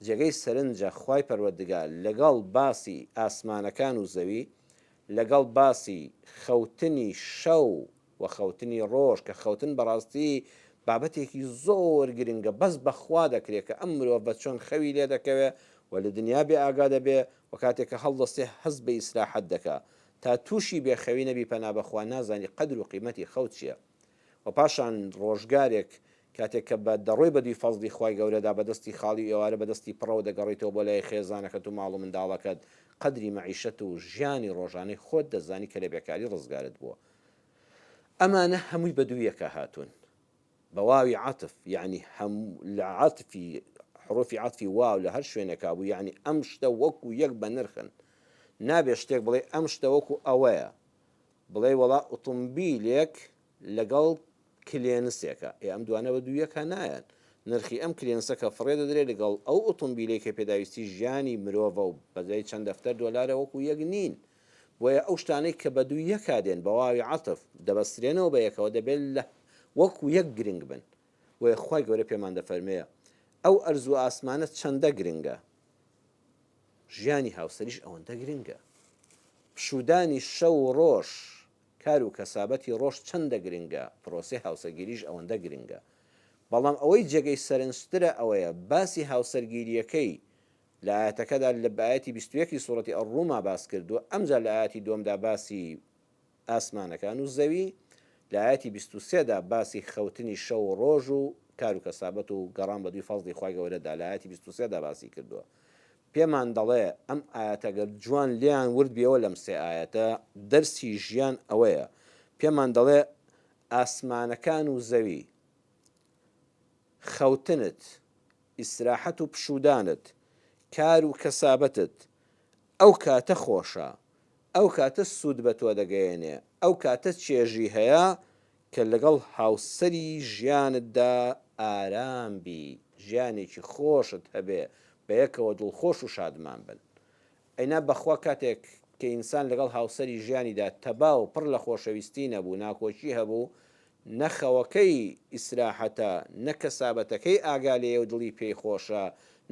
جێگەی سەرنجە خوای پەروەردگار لەگەڵ باسی ئاسمانەکان و زەوی، لەگەڵ باسی خەوتنی شەو و خەوتنی ڕۆژ، کە خەوتن بەڕاستی بابەتێکی زۆر گرنگە، بەس بەخوا دەکرێ کە ئەم مرۆڤە چۆن خەوی لێ دەکەوێ و لە دنیا بێ ئاگا دەبێ و کاتێ کە هەڵدەستێ هەست بە ئیسراحەت دەکا، تا تووشی بێخەوی نەبی پەنا بەخوا نازانی قەدر و قیمەتی خەو چیە. و پاشان ڕۆژگارێک کاتێک کە بە دەڕۆی بە دووی فەزڵی خوای گەورەدا بە دەستی خاڵی و ئێوارە بە دەستی پڕەوە دەگەڕێیتەوە بۆ لای خێزانەکەت و ماڵ و منداڵەکەت قەدری مەعیشەت و ژیانی ڕۆژانەی خۆت دەزانی کە لە بێکاری ڕزگارت بووە ئەمانە هەمووی بە دوویەکا هاتوون بە واوی عەتف یەعنی هەم لە عەتفی حروفی عەتفی واو لە هەر شوێنێکا بوو یەعنی ئەم شتە وەکو یەک بە نرخن نابێ شتێک بڵێ ئەم شتە وەکو ئەوەیە بڵێی وەڵا ئوتومبیلێک لەگەڵ کلێنسێکە ئێ ئەم دوانە بە دوو یەکا نایەن نرخی ئەم کلێنسە کە فڕێ دەدرێ لەگەڵ ئەو ئوتومبیلەی کە پێداویستی ژیانی مرۆڤە و بەدەی چەند دەفتەر دۆلارە وەکو یەک نین بۆیە ئەو شتانەی کە بە دوو یەکا دێن بە واوی عەتف دەبەسترێنەوە بە یەکەوە دەبێ لە وەکو یەک گرنگ بن بۆیە خوای گەورە پێمان دەفەرمێ ئەو ئەرز و ئاسمانە چەندە گرنگە ژیانی هاوسەریش ئەوەندە گرنگە. پشوودانی شەو و ڕۆژ، کار و کەسابەتی ڕۆژ چەندە گرنگە، پرۆسەی هاوسەگیریش ئەوەندە گرنگە. بەڵام ئەوەی جێگەی سەرنجترە ئەوەیە باسی هاوسەرگیرییەکەی لە ئایەتەکەدا لە بە ئایەتی بیست و یەک ی سورەتی الروم-ا باس کردووە، ئەمجا لە ئایەتی دووەمدا باسی. ئاسمانەکان و زەوی، لە ئایەتی بیست و سێ دا باسی خەوتنی شەو و ڕۆژ و کار و کەسابەت و گەڕان بەدووی فەزڵی خوای گەورە دا لە ئایەتی بیست و سێ دا باسی کردووە پێمان دەڵێ ئەم ئایەتە گەر جوان لێیان ورد بیەوە لەم سێ ئایەتە دەرسی ژیان ئەوەیە پێمان دەڵێ ئاسمانەکان و زەوی خەوتنت ئیسراحەت و پشودانت کار و کەسابەتت ئەو کاتە خۆشە ئەو کاتە سوود بە تۆ دەگەیەنێ، ئەو کاتە چێژی هەیە کە لەگەڵ هاوسەری ژیانتدا ئارام بی، ژیانێکی خۆشت هەبێ، بە یەکەوە دڵخۆش و شادمان بن. ئەینا بەخوا کاتێک کە ئینسان لەگەڵ هاوسەری ژیانیدا تەبا و پڕ لە خۆشەویستی نەبوو، ناکۆکی هەبوو، نە خەوەکەی ئیسراحەتە، نە کەسابەتەکەی ئاگا لێیە و دڵی پێی خۆشە،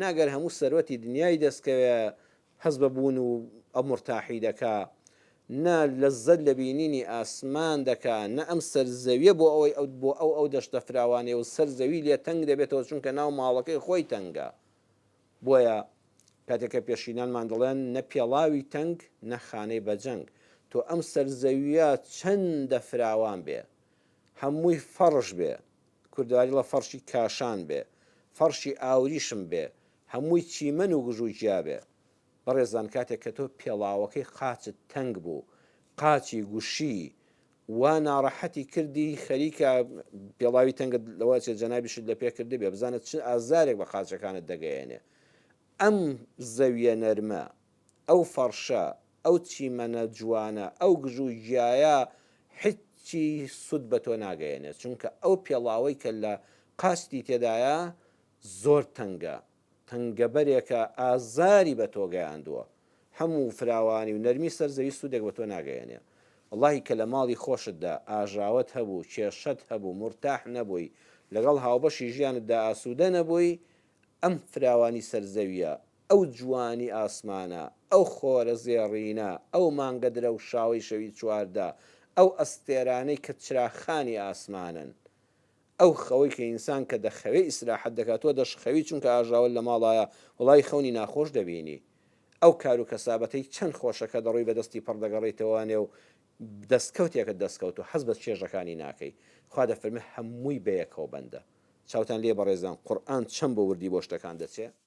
نە گەر هەموو سەروەتی دنیای دەستکەوێ، هەست بە بوون و ئەمرتاحی دەکا، نە لەززەت لە بینینی ئاسمان دەکا، نە ئەم سەر زەویە بۆ ئەوەی ئەو بۆ ئەو ئەو دەشتە فراوانەی و سەر زەوی لێ تەنگ دەبێتەوە چونکە ناو ماڵەکەی خۆی تەنگە بۆیە کاتێک کە پێشینانمان دەڵێن نە پێڵاوی تەنگ نە خانەی بەجەنگ تۆ ئەم سەر زەویە چەندە فراوان بێ هەمووی فەڕش بێ کوردەواریڵە فەڕشی کاشان بێ فەڕشی ئاوریشم بێ هەمووی چیمەن و گژو جیا بێ. بەڕێزان کاتێک کە تۆ پێڵاوەکەی قاچت تەنگ بوو قاچی گوشی وا ناڕەحەتی کردی خەریکە پێڵاوی تەنگت لەوە چێ جەنابیشت لە پێ کردبێ بزانە چ ئازارێک بە قاچەکانت دەگەیەنێ ئەم زەویە نەرمە ئەو فەڕشە ئەو چیمەنە جوانە ئەو گژو گیایە حچی سود بە تۆ ناگەیەنێ چونکە ئەو پێڵاوەی کە لە قاچتی تێدایە زۆر تەنگە، تەنگەبەرێکە ئازاری بە تۆ گەیاندووە، هەموو فراوانی و نەرمی سەر زەوی سوودێک بە تۆ ناگەیەنێ. وەڵاهی کە لە ماڵی خۆشتدا ئاژاوەت هەبوو، کێشەت هەبوو، مورتاح نەبووی، لەگەڵ هاوبەشی ژیانتدا ئاسوودە نەبووی، ئەم فراوانی سەر زەوییە، ئەو جوانی ئاسمانە، ئەو خۆرە زێڕینە، ئەو مانگە درەوشاوەی شەوی چواردە، ئەو ئەستێرانەی کە چراخانی ئاسمانن، ئەو خەوەی کە ئینسان کە دەخەوێ ئیسراحەت دەکا تۆ دەشخەوی چونکە ئاژاوە لە ماڵایە وەڵای خەونی ناخۆش دەبینی ئەو کارو کەسابەتەی چەن خۆشە کە دەڕۆی بە دەستی پڕ دەگەڕێیتەوە نێو دەستکەوتێکت دەستکەوت و حەز بە چێژەکانی ناکەی خوا دەفەرمێ هەمووی بەیەکەوە بەندە چاوتان لێ بەڕێزان قورئان چەن بۆ وردی بۆ شتەکان دەچێ.